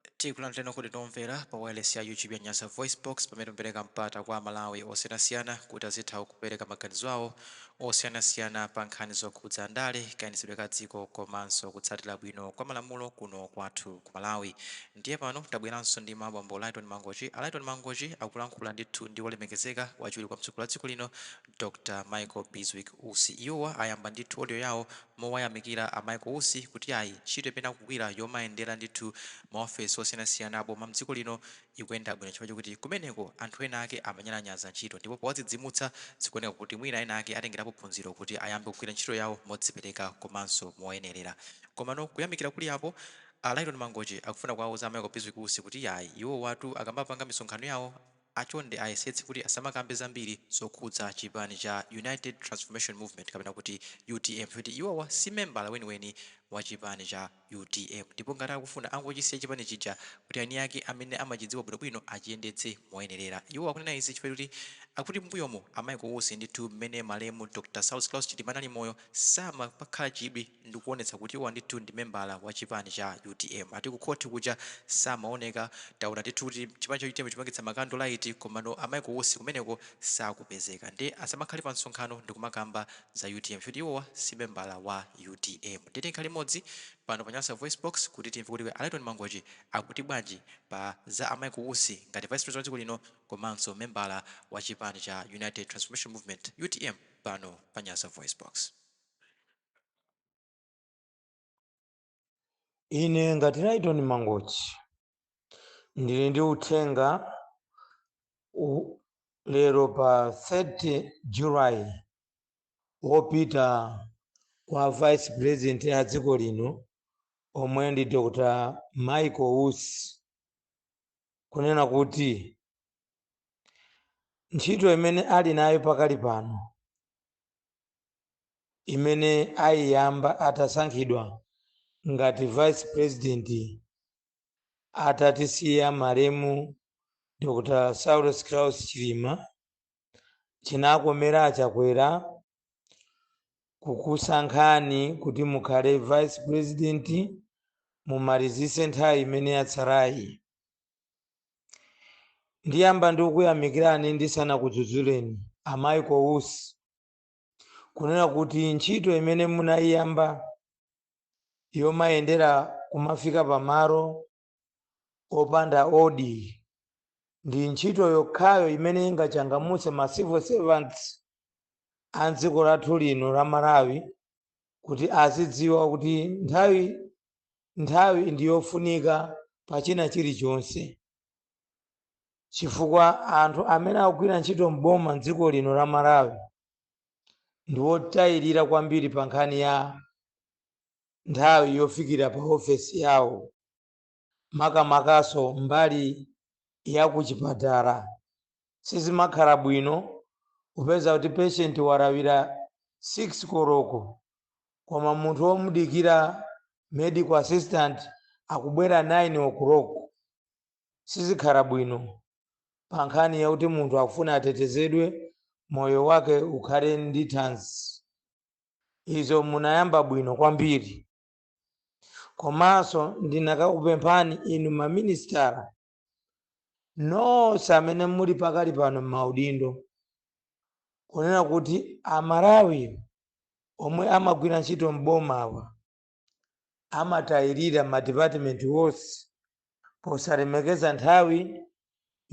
Tikulandireni okondedwa omvera pa wailesi ya YouTube ya Nyasa VoiceBox, pamene timapereka mpata kwa Amalawi osiyanasiyana kuti azitha kupereka maganizo awo osiyanasiyana pa nkhani zokhudza ndale, kayendetsedwe ka dziko komanso kutsatira bwino kwa malamulo kuno kwathu ku Malawi. Ndiye pano tabweranso ndi a bambo Lyton Mangochi. A Lyton Mangochi akulankhula ndithu ndi wolemekezeka, wachiwiri kwa mtsogoleri wa dziko lino, Dr Michael Bizwick Usi. Iwowa ayamba ndithu audio yawo mowayamikira a Michael Usi kuti ayi ntchito imene akugwira yomayendera ndithu ma ofesi osiyanasiyana aboma mdziko lino ikuyenda bwino chifukwa chokuti kumeneko anthu ena ake amanyalanyaza ntchito ndipo powadzidzimutsa zikuoneka kuti mwina ena ake atengerapo phunziro kuti ayambe kugwira ntchito yawo modzipereka komanso moyenerera. Komano kuyamikira kuli apo, a Lyton Mangochi akufuna kuwauza a Michael Bizwick Usi kuti ayi iwowatu akamapanga misonkhano yawo, a chonde ayesetse kuti asamakambe zambiri zokhudza chipani cha United Transformation Movement kapena kuti utm kuti iwowa si membala weniweni wa chipani cha utm ndipo ngati akufuna angochisiya chipani chija kuti aniake amene amachidziwa bwinobwino achiyendetse moyenerera. Iwo akunena izi chifukwa choti akuti m'mbuyomu a Michael Usi ndithu mmene malemu Dr Saulos Klaus Chilima anali moyo samapakhala chidwi ndikuonetsa kuti iwo ndithu ndi membala wa chipani cha utm. Ati ku khothi kuja samaoneka. Taona ndithu kuti chipani cha utm chikupangitsa makando laiti komano a Michael Usi kumeneko sakupezeka. Nde asamakhale pa msonkhano ndikumakamba za utm kuti iwowa si membala wa utm. Tiyeni tikhale limodzi pano pa Nyasa VoiceBox kuti timve kuti a Lyton Mangochi akuti bwanji pa za a Michael Usi ngati Vice President wa dziko lino komanso membala wa chipani cha United Transformation Movement, utm, pano pa Nyasa VoiceBox. ine ngati Lyton Mangochi ndili ndi uthenga lero pa 30 July wopita kwa Vice President ya dziko lino omwe ndi Dr. Michael Usi kunena kuti ntchito imene ali nayo pakali pano imene aiyamba atasankhidwa ngati vice president atatisiya malemu Dr Saulos Klaus Chilima, chinakomera a Chakwera kukusankhani kuti mukhale vice president mumalizise nthawi imene yatsalayi. Ndiyamba ndikuyamikirani ndisanakudzudzuleni a Michael Usi kunena kuti ntchito imene munayiyamba yomayendera kumafika pamalo opanda odi ndi ntchito yokhayo imene ingachangamutse ma civil servants a dziko lathu lino la malawi kuti azidziwa kuti nthawi ndi yofunika pa china chilichonse chifukwa anthu amene akugwira ntchito m'boma m'dziko lino la Malawi ndi wotayirira kwambiri pa nkhani ya nthawi yofikira pa ofesi yawo makamakanso mbali ya kuchipatala sizimakhala bwino kupeza kuti patient walawira 6 koloko koma munthu womudikira medical assistant akubwera 9 o'clock Sizikhala bwino pa nkhani yakuti munthu akufuna atetezedwe moyo wake ukhale ndi thanzi. Izo munayamba bwino kwambiri. Komanso ndinakakupemphani inu ma minisitala nonse amene muli pakali pano m'maudindo kunena kuti a Malawi omwe amagwira ntchito m'bomawa, amatayirira madipatimenti onse posalemekeza nthawi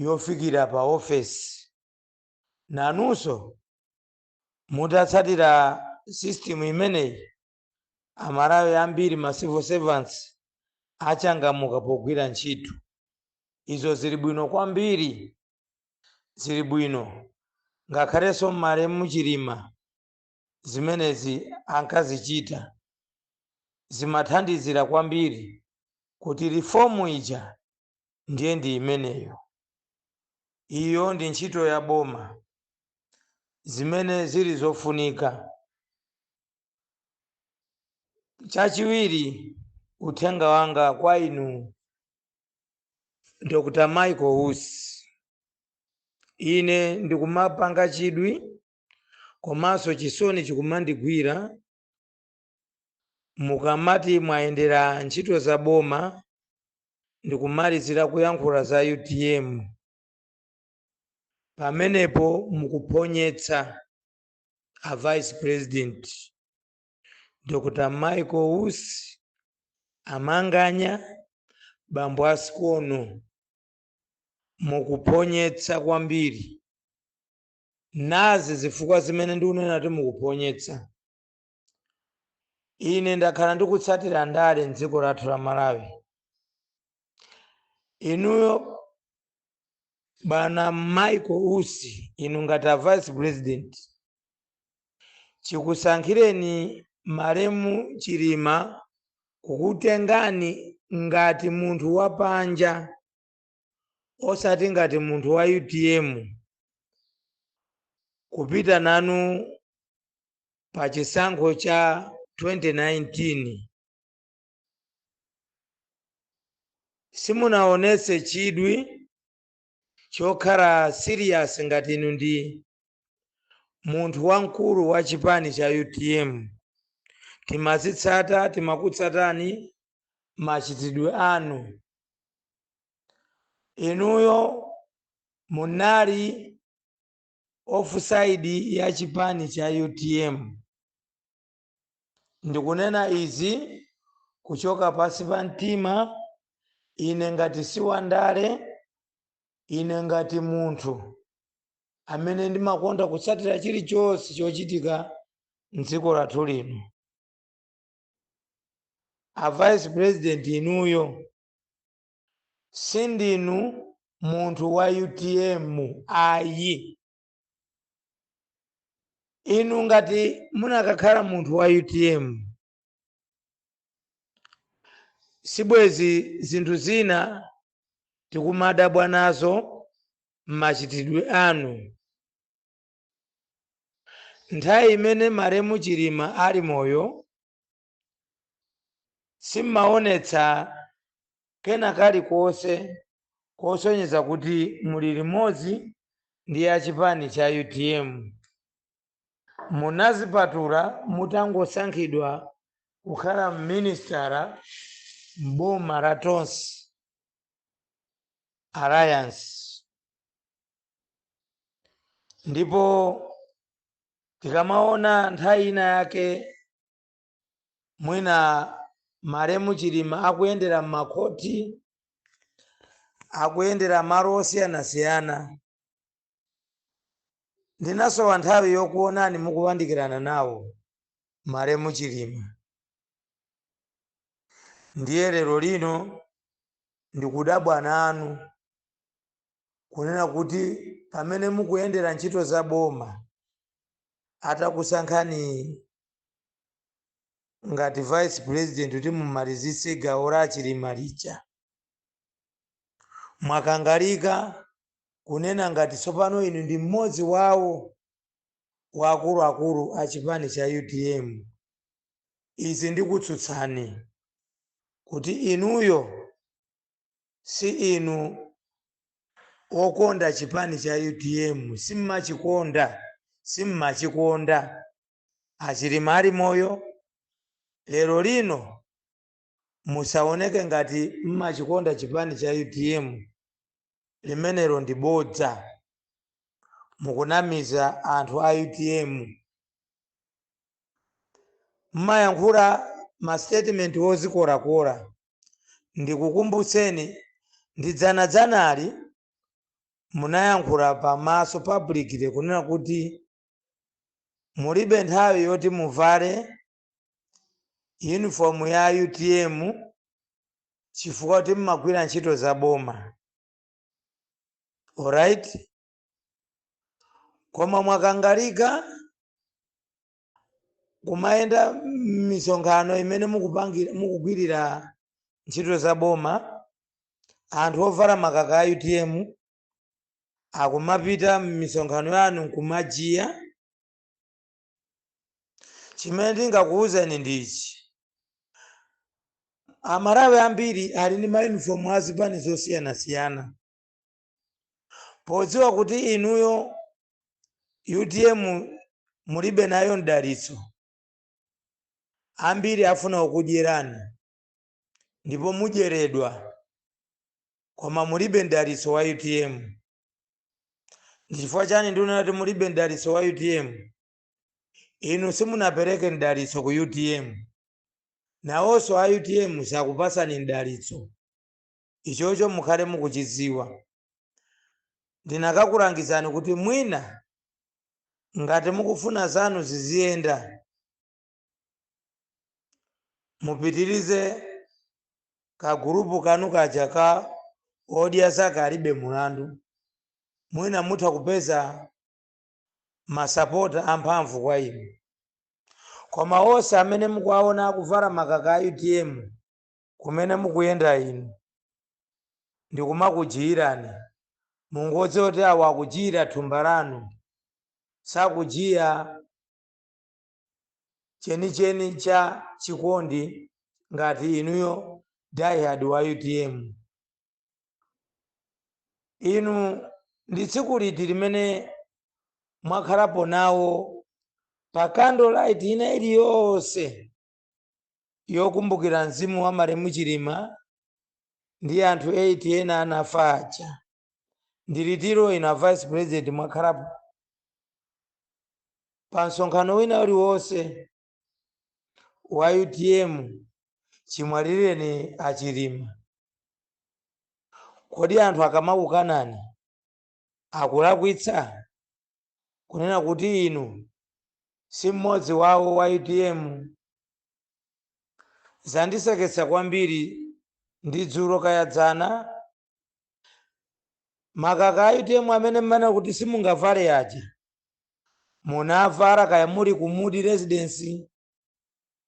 yofikira pa ofesi. Nanunso mutatsatira system imeneyi, Amalawi ambiri ma civil servants achangamuka pogwira ntchito. Izo zili bwino kwambiri, zili bwino. Ngakhalenso malemu Chilima Zimenezi ankazichita zimathandizira kwambiri kuti reform ija ndiye ndi imeneyo. Iyo ndi ntchito ya boma. Zimene zili zofunika. Chachiwiri, uthenga wanga kwa inu Dr. Michael Usi, ine ndikumapanga chidwi komanso chisoni chikumandigwira mukamati mwayendera ntchito za boma ndikumalizira kuyankhula za utm pamenepo mukuphonyetsa a vice president dr michael usi amanganya bambo asikono mukuphonyetsa kwambiri Nazi zifukwa zimene ndikunena kuti mukuphonyetsa. Ine ndakhala ndikutsatira ndale m'dziko lathu la Malawi. Inuyo bwana Michael Usi, inu ngati a Vice President, chikusankhireni malemu Chilima kukutengani ngati munthu wapanja. osati ngati munthu wa utm kupita nanu pa chisankho cha 2019 simunaonetse chidwi chokhala serious ngati inu ndi munthu wamkulu wa chipani cha utm timazitsata, timakutsatani machitidwe anu inuyo munali offside ya chipani cha utm ndikunena izi kuchoka pasi pa mtima ine ngati si wandale ine ngati munthu amene ndimakonda kutsatira chilichonse chochitika mdziko lathu lino a vice president inuyo sindinu munthu wa utm ayi inu ngati munakakhala munthu wa utm sibwezi zinthu zina tikumadabwa nazo m'machitidwe anu Nthawi imene malemu Chilima ali moyo simmaonetsa kena kalikonse kosonyeza kuti muli limodzi ndi a chipani cha utm. Munazipatula mutangosankhidwa kukhala minister m'boma la Tonse alliance. ndipo tikamaona nthawi ina yake mwina malemu chilima akuyendera m'makhoti akuyendera malo osiyanasiyana ndinasowa nthawi yokuonani mukuyandikirana nawo malemu chilima ndiye lero lino ndikudabwa nanu kunena kuti pamene mukuyendera ntchito za boma atakusankhani ngati vice president kuti mumalizitse gawo la chilima lija mwakangalika kunena ngati tsopano inu ndi mmodzi wawo wa akuluakulu a chipani cha utm izi ndikutsutsani kuti inuyo si inu okonda chipani cha utm simmachikonda simmachikonda achilima ali moyo lero lino musaoneke ngati mmachikonda chipani cha utm limenelo ndi bodza mukunamiza anthu a utm mmayankhula ma statement ozikolakola ndikukumbutseni ndi dzanadzanali munayankhula pamaso publicly kunena kuti mulibe nthawi yoti muvale uniform ya utm chifukwa akuti mmagwira ntchito za boma alright koma mwakangalika kumayenda m'misonkhano imene mukupangira mukugwirira ntchito za boma anthu ovala makaka a utm akumapita m'misonkhano yanu nkumajiya chimene ndingakuwuzeni ndichi amalawi ambiri ali ndi mayunifomu a zipani zosiyanasiyana podziwa kuti inuyo utm mulibe nayo mdalitso ambiri afuna kukudyerani ndipo mudyeredwa koma mulibe mdalitso wa utm ndi chifukwa chani ndikunena kuti mulibe mdalitso wa utm inu simunapereke mdalitso ku utm nawonso a utm sakupatsani mdalitso Ichocho mukhale mukuchidziwa. Ndinakakulangizani kuti mwina ngati mukufuna zanu ziziyenda mupitirize ka group kanu kaja ka odya zake alibe mulandu mwina mutha kupeza ma sapota amphamvu kwa inu koma onse amene mukuwaona akuvala makaka a utm kumene mukuyenda inu, ndi kumakujiirani, mungodziwa kuti awo akujiira thumba lanu, sakujiya chenicheni cha chikondi ngati inuyo diehard wa utm. Inu ndi tsiku liti limene mwakhalapo nawo pa candle light ina iliyonse? yokumbukira mzimu wa malemu Chilima ndi anthu 8 ena anafa aja. Ndi litiro inu a Vice President mwakhalapo pa msonkhano wina uliwonse wa utm chimwalireni a Chilima? Kodi anthu akamakukanani akulakwitsa kunena kuti inu si mmodzi wawo wa utm? Zandiseketsa kwambiri ndi dzulo kaya dzana, makaka a utm amene mmanena kuti simungavale aja munavala kaya muli ku Mudi Residence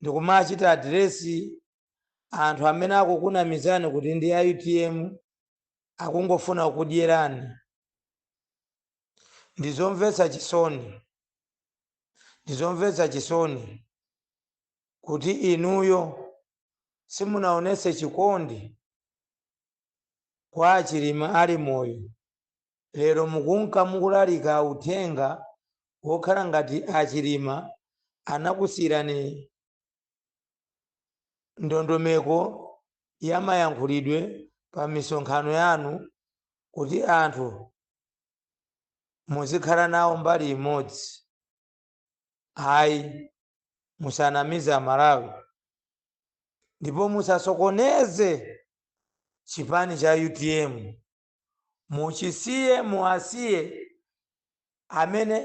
ndikumachita address anthu amene akukunamizani kuti ndi a utm. akungofuna kudyerani. Ndi zomvetsa chisoni, ndi zomvetsa chisoni kuti inuyo simunaonetse chikondi kwa a Chilima ali moyo. Lero mukunka mukulalika uthenga wokhala ngati a Chilima anakusiyirani ndondomeko ya mayankhulidwe pa misonkhano yanu kuti anthu muzikhala nawo mbali imodzi ayi musanamize amalawi ndipo musasokoneze chipani cha utm Muchisiye muasiye amene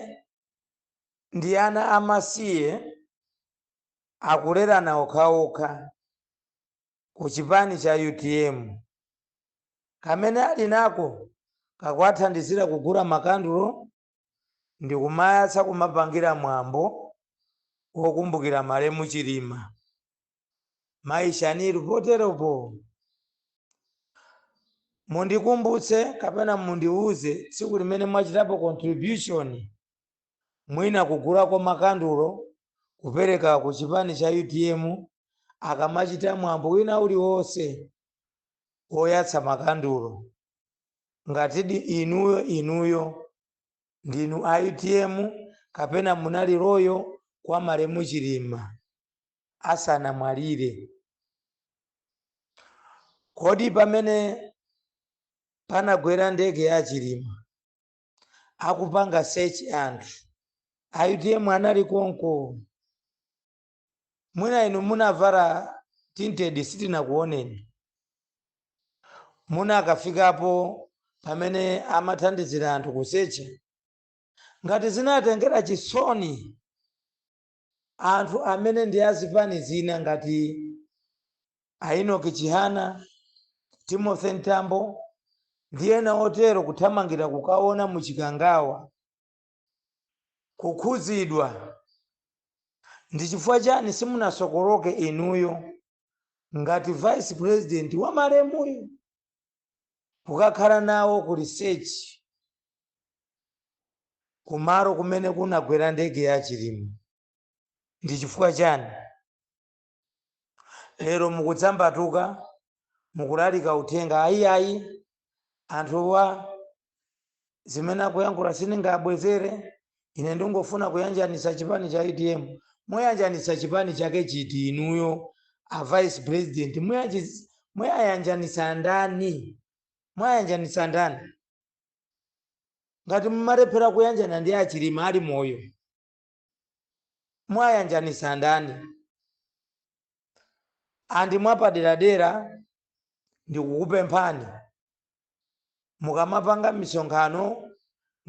ndi ana amasiye akulerana okhaokha ku chipani cha utm. Kamene ali nako kakuwathandizira kugula makandulo ndikumayatsa kumapangira mwambo wokumbukira malemu Chilima. Mayi Shanil, poteropo mundikumbutse kapena mundiuze tsiku limene mwachitapo contribution mwina kugulako makandulo kupereka ku chipani cha utm akamachita mwambo wina uliwonse woyatsa makandulo. Ngatidi inuyo inuyo ndinu a utm kapena munali loyal kwa malemu Chilima. asanamwalire. Kodi pamene panagwera ndege ya a Chilima akupanga search anthu a utm anali konko? Mwina inu munavala tinted sitinakuoneni. Munakafikapo pamene amathandizira anthu kusecha? Ngati zinatengera chisoni Anthu amene ndi a zipani zina ngati a Enoch Chihana, Timothy Mtambo ndi ena otero kuthamangira kukaona mu Chikangawa kukhudzidwa ndi chifukwa chani simunasokoloke inuyo ngati vice president wa malemuyo? Kukakhala nawo ku research kumalo kumene kunagwera ndege ya Chilima ndi chifukwa chani? Lero mukudzambatuka mukulalika uthenga ayi ayi anthuwa zimene akuyankhula sindingabwezere ine ndingofuna kuyanjanitsa chipani cha utm muyanjanitsa chipani chake chiti inuyo a vice president muyanji- muyayanjanitsa ndani muyayanjanitsa ndani ngati mumalephera kuyanjana ndi a Chilima ali moyo muyayanjanitsa ndani and mwapaderadera ndikukupemphani mukamapanga misonkhano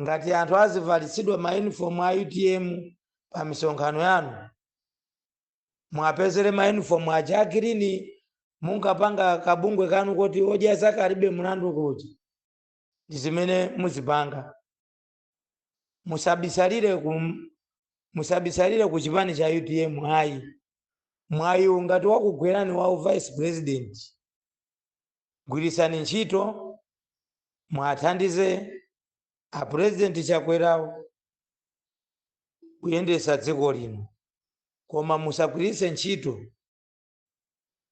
ngati anthu azivalitsidwa ma uniform a utm pa misonkhano yanu muwapezere ma uniform aja agirini munkapanga kabungwe kanu koti odya zake alibe mlandu kuti ndi zimene muzipanga musabisalire ku chipani cha utm ayi mwayiwu ngati wakugwerani wa u vice president gwiritsani ntchito muwathandize a president chakwerawo kuyendetsa dziko lino koma musagwiritse ntchito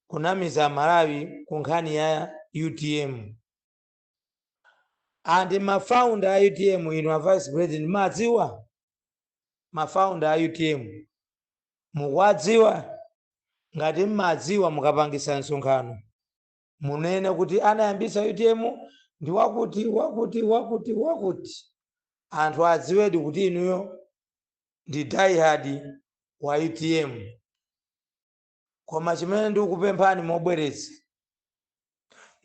kunamiza malawi ku nkhani ya utm And ma founder a utm inu a vice president mumawadziwa? Ma founder a utm mukuwadziwa? Ngati mmadziwa mukapangitsa msonkhano munene kuti anayambisa utm ndi wakuti wakuti wakuti wakuti. Anthu adziwedi kuti inuyo ndi diehard wa utm. Koma chimene ndikupemphani mobwereza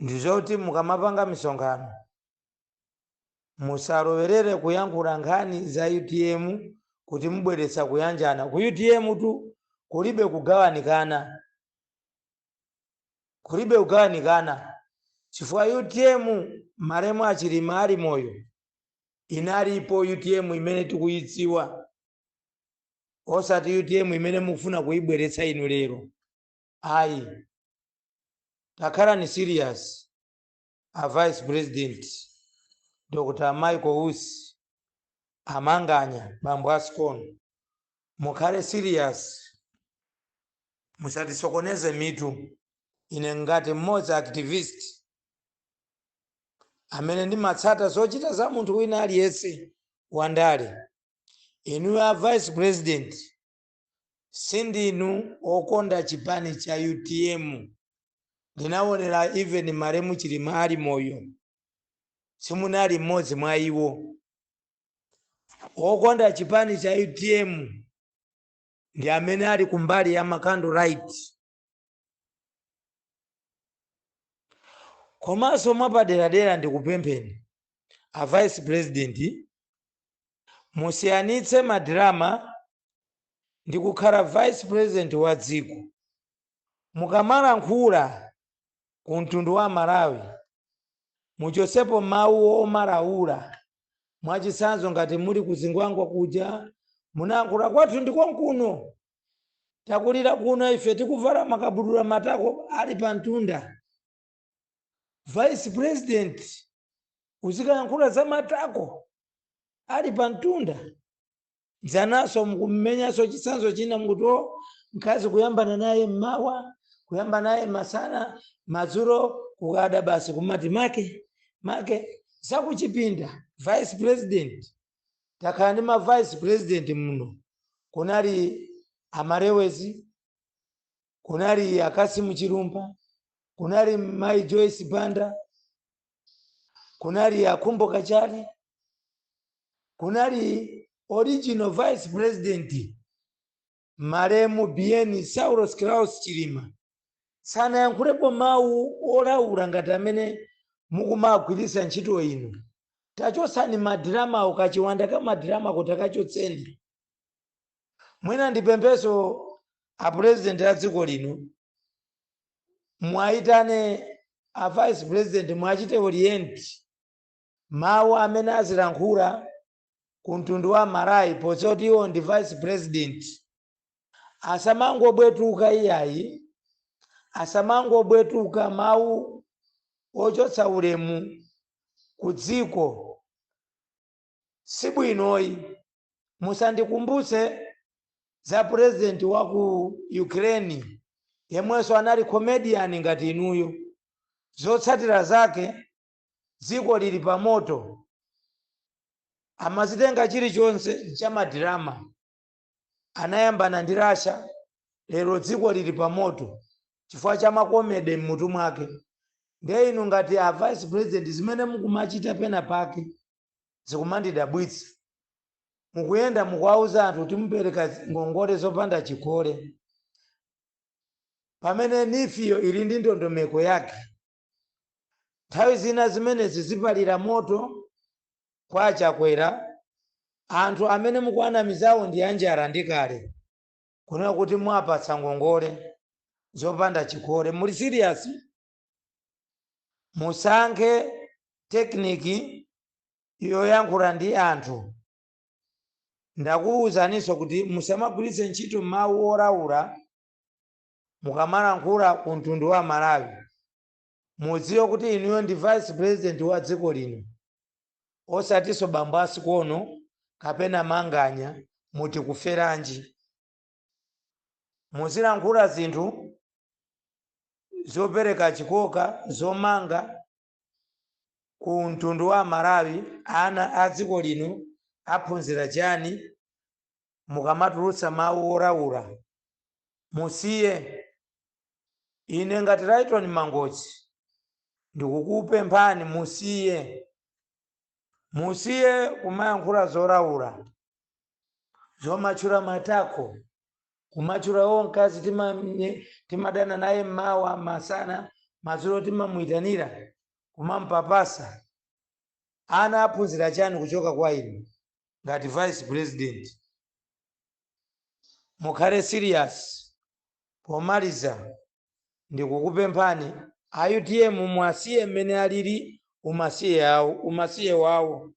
ndi zoti mukamapanga misonkhano musalowerere kuyankhula nkhani za utm kuti mubweretsa kuyanjana. Ku utm tu kulibe kugawanikana, kulibe kugawanikana chifukwa utm malemu a Chilima ali moyo inalipo utm imene tikuyidziwa. osati utm imene mukufuna kuibweretsa inu lero ayi takhalani serious a vice president dr michael usi amanganya bambo a sikono mukhale serious musatisokoneze mitu ine ngati mmodzi activist amene ndimatsata zochita za munthu wina aliyense wandale Inuyo a vice president sindinu okonda chipani cha utm ndinawonela even malemu a chilima ali moyo simunali mmodzi mwa iwo okonda chipani cha utm ndi amene ali kumbali ya ma candle light komanso mwapaderadera ndikupempheni a vice president musiyanitse ma drama ndi kukhala vice president wa dziko mukamalankhula ku mtundu wa amalawi muchotsepo mawu omalawula mwachitsanzo ngati muli kuzingwangwa kuja munayankhula kwathu ndikonkuno takulira kuno ife tikuvala makabudula matako ali pamtunda vice president uzikayankhula za matako ali pamtunda dzananso mukumenyanso chitsanzo china nkuti o mkazi kuyambana naye mmawa kuyamba naye masana madzulo kukada basi kumati make make zakuchipinda vice president takhala ndi ma vice president muno kunali a Malewezi kunali a Kasimu Chilumpha kunali Mai Joyce Banda kunali a Khumbo Kachali kunali original vice president Malemu Bien Saulos Klaus Chilima sanayankhulepo mawu olaula ngati amene mukumagwiritsa ntchito inu. Tachotsani ma drama wo, kachiwanda ka ma drama ko takachotseni. Mwina ndipemphenso a president a dziko lino muwaitane a vice president muwachite orient. Mawu amene azilankhula ku mtundu wa Amalawi podziwa kuti iwo ndi vice president asamangobwetuka iyayi asamangobwetuka mawu ochotsa ulemu ku dziko sibwinoyi musandikumbutse za president wa ku Ukraine yemwenso anali comedian ngati inuyo zotsatira zake dziko lili pa moto amazitenga chilichonse cha ma drama anayambana ndi Russia lero dziko lili pa moto chifukwa cha ma comedy mmutu mwake ndiye inu ngati a vice president zimene mukumachita pena pake zikumandidabwitsa mukuyenda mukuwauza anthu kuti mupereka ngongole zopanda chikole pamene nifiyo ili ndi ndondomeko yake Nthawi zina zimenezi zizipalira moto kwa a Chakwera, anthu amene mukuwanamizawo ndi anjala ndi kale. Kunena kuti muwapatsa ngongole zopanda chikole, muli serious? Musankhe technique yoyankhula ndi anthu. Ndakuwuzaninso kuti musamagwiritse ntchito mawu olaula. Mukamalankhula ku mtundu wa Malawi mudziwe kuti inuyo ndi vice president wa dziko lino osatinso bambo a Sikono kapena Manganya mu Tikuferanji? Muzilankhula zinthu zopereka chikoka, zomanga. Ku mtundu wa amalawi ana a dziko lino aphunzira chani mukamatulutsa mawu wolaula musiye ine ngati Lyton Mangochi ndikukupemphani musiye musiye kumayankhula zolaula. Zomatchula matako, kumatchula oh, mkazi timadana naye mmawa, masana, madzulo timamuitanira, kumampapasa. Ana aphunzira chani kuchoka kwa inu ngati vice president? Mukhale serious. Pomaliza ndikukupemphani a utm muwasiye mmene alili umasiye wawo.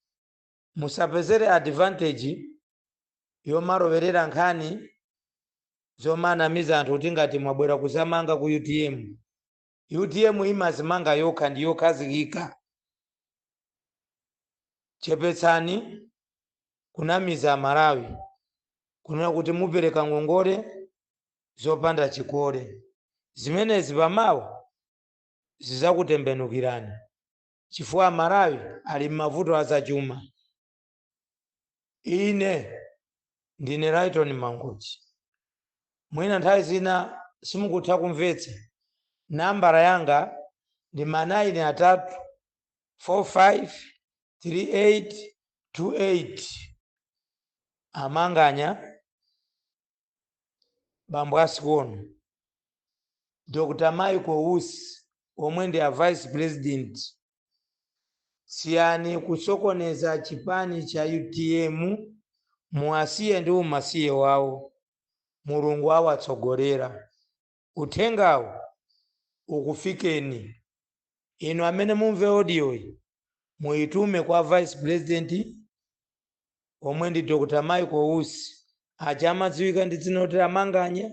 Musapezere advantage yomalowerera nkhani zomanamiza anthu kuti ngati mwabwera kuzamanga ku utm. Utm imazimanga yokha ndi yokhazikika. Chepetsani kunamiza Amalawi kunena kuti mupereka ngongole zopanda chikole. Zimenezi pamawa zizakutembenukirani. chifukwa amalawi ali mmavuto azachuma ine ndine lyton mangochi mwina nthawi zina simukutha kumvetsa nambala yanga ndi ma 9 atatu, 453828 amanganya bambo a Sikono, Dr. Michael Usi omwe ndi a vice president, siyani kusokoneza chipani cha utm, muwasiye ndi umasiye wawo, Mulungu awatsogolera. Uthengawu ukufikeni. Inu amene mumve audio yi muitume kwa vice president omwe ndi Dr Michael Usi aja amadziwika ndi dzina loti a Manganya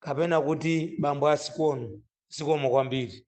kapena kuti bambo a Sikono. Zikomo kwambiri.